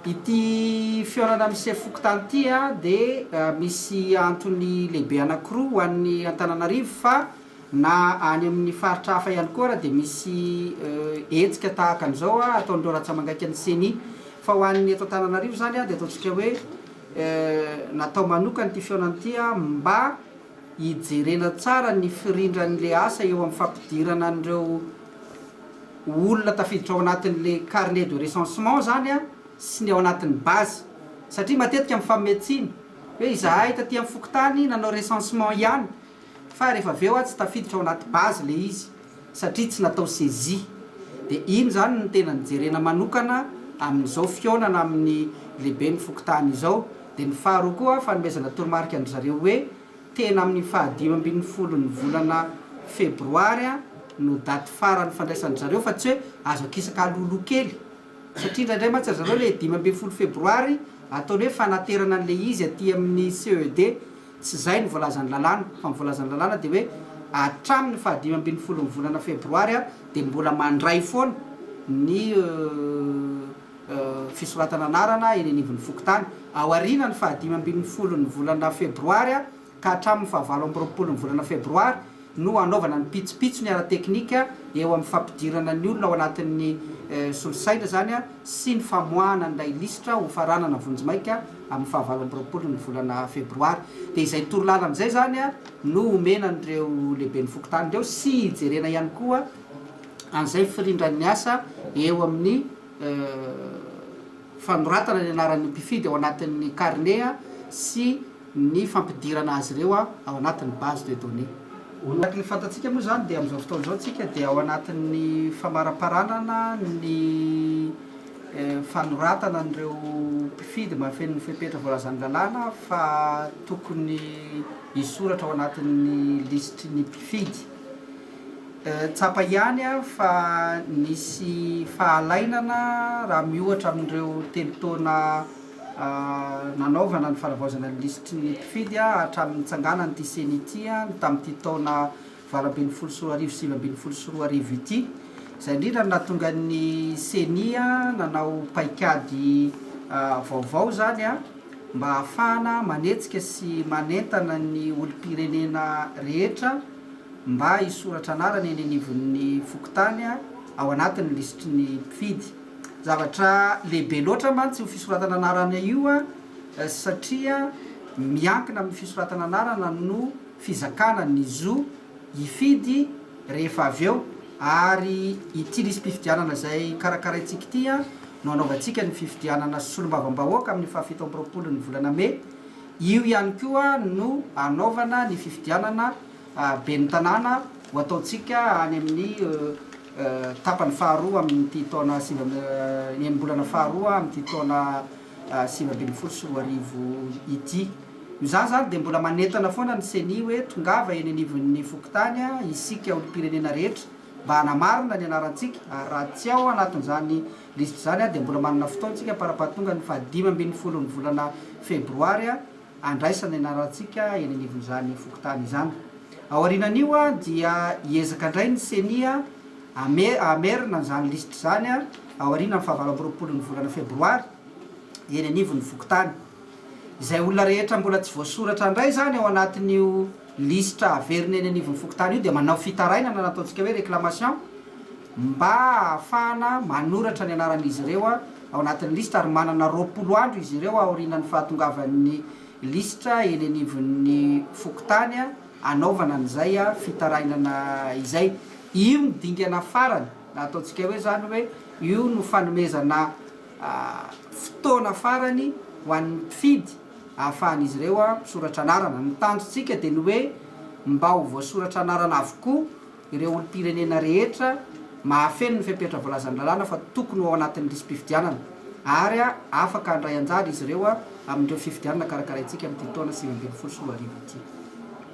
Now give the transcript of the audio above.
Ity fihaonana amin'ny sefo fokontany ity dia misy antony lehibe anankiroa ho an'ny Antananarivo fa na any amin'ny faritra hafa ihany koa ary dia misy hetsika tahaka an'izao ataon'ireo ratsamangaika ny Ceni. Fa ho an'ny eto Antananarivo izany dia ataontsika hoe natao manokana ity fihaonana ity mba hijerena tsara ny firindran'ilay asa eo amin'ny fampidirana an'ireo olona tafiditra ao anatin'ilay carnet de recensement izany sy ny ao anatin'ny base satria matetika mifamehy tsiny hoe izahay taty amin'ny fokontany nanao recensement ihany fa rehefa avy eo tsy tafiditra ao anaty base ilay izy. satria tsy natao saisie dia iny izany no tena nijerena manokana amin'izao fihaonana amin'ny lehiben'ny fokontany izao dia ny faharoa koa fanomezana toromarika an-dry zareo hoe tena amin'ny fahadimy ambin'ny folon'ny volana febroary no daty farany fandraisan-dry zareo fa tsy hoe azo akisaka alohaloha kely satria indraindray mantsy ry zareo ilay dimy ambin'ny folo febroary ataony hoe fanaterana an'ilay izy aty amin'ny CED Tsy izay no voalazan'ny lalàna, fa ny voalazan'ny lalàna dia hoe hatramin'ny fahadimy ambin'ny folon'ny volana febroary ary dia mbola mandray foana ny fisoratana anarana eny anivon'ny fokontany. Aorianan'ny fahadimy ambin'ny folon'ny volana febroary ka hatramin'ny fahavalo amby roapolon'ny volana febroary no hanaovana ny pitsopitsony ara-teknika eo amin'ny fampidirana ny olona ao anatin'ny solosaina izany sy ny famoahana an'ilay lisitra hofaranana vonjimaika amin'ny fahavalo amby roapolo ny volana febroary. Dia izay torolalana izay izany no omena an'ireo lehiben'ny fokontany ireo sy hijerena ihany koa an'izay firindran'ny asa eo amin'ny. fanoratana ny anaran'ny mpifidy ao anatin'ny karne sy ny fampidirana azy ireo ao anatin'ny base de données. Araka ny fantatsika moa izany dia amin'izao fotoana izao isika dia ao anatin'ny famaramparanana ny fanoratana an'ireo mpifidy mahafeno ny fepetra voalazan'ny lalàna fa tokony hisoratra ao anatin'ny lisitry ny mpifidy. Tsapa ihany fa nisy fahalainana raha miohatra amin'ireo telo taona nanaovana ny fanavaozana ny lisitry ny mpifidy hatramin'ny nitsanganan'ity ceni ity ny tamin'ity taona valo ambin'ny folo sy roa arivo sy sivy ambin'ny folo sy roa arivo ity. Izay indrindra no nahatonga ny ceni nanao paikady vaovao izany mba hahafahana manetsika sy manentana ny olom-pirenena rehetra, mba hisoratra anarana eny anivon'ny fokontany ao anatin'ny lisitry ny mpifidy. Zavatra lehibe loatra mantsy io fisoratana anarana io satria miankina amin'ny fisoratana anarana no fizakana ny zo hifidy rehefa avy eo ary ity lisi-pifidianana izay karakaraintsika ity no hanaovantsika ny fifidianana solombavambahoaka amin'ny fahafito amby roapolon'ny volana mey io ihany koa no hanaovana ny fifidianana Ben'ny tanàna ho ataontsika any amin'ny tapany faharoa amin'ity taona sivy amby, ny enim-bolana faharoa amin'ity taona sivy ambin'ny folo sy roa arivo ity. Noho izany izany dia mbola manentana foana ny Ceni hoe tongava eny anivon'ny fokontany isika olom-pirenena rehetra mba hanamarina ny anarantsika ary raha tsy ao anatin'izany lisitra izany dia mbola manana fotoana isika am-parampahatongan'ny fahadimy ambin'ny folon'ny volana febroary handraisana ny anarantsika eny anivon'izany fokontany izany. Aorianan'io dia hiezaka indray ny Ceni hamerina an'izany lisitra izany aorianan'ny fahavalo amby roapolon'ny volana febroary eny anivon'ny fokontany. Izay olona rehetra mbola tsy voasoratra indray izany ao anatin'io lisitra haverina eny anivon'ny fokontany io dia manao fitarainana na ataontsika hoe réclamation, mba hahafahana manoratra ny anaran'izy ireo ao anatin'ny lisitra ary manana roapolo andro izy ireo aorianan'ny fahatongavan'ny lisitra eny anivon'ny fokontany hanaovana an'izay fitarainana izay. Io no dingana farany na ataontsika hoe izany hoe io no fanomezana fotoana farany ho an'ny mpifidy hahafahan'izy ireo misoratra anarana. Ny tanjontsika dia ny hoe mba ho voasoratra anarana avokoa. ireo olom-pirenena rehetra mahafeno ny fepetra voalazan'ny lalàna fa tokony ho ao anatin'ny lisi-pifidianana ary afaka handray anjara izy ireo amin'ireo fifidianana karakaraintsika amin'ity taona sivy ambin'ny folo sy roa arivo ity.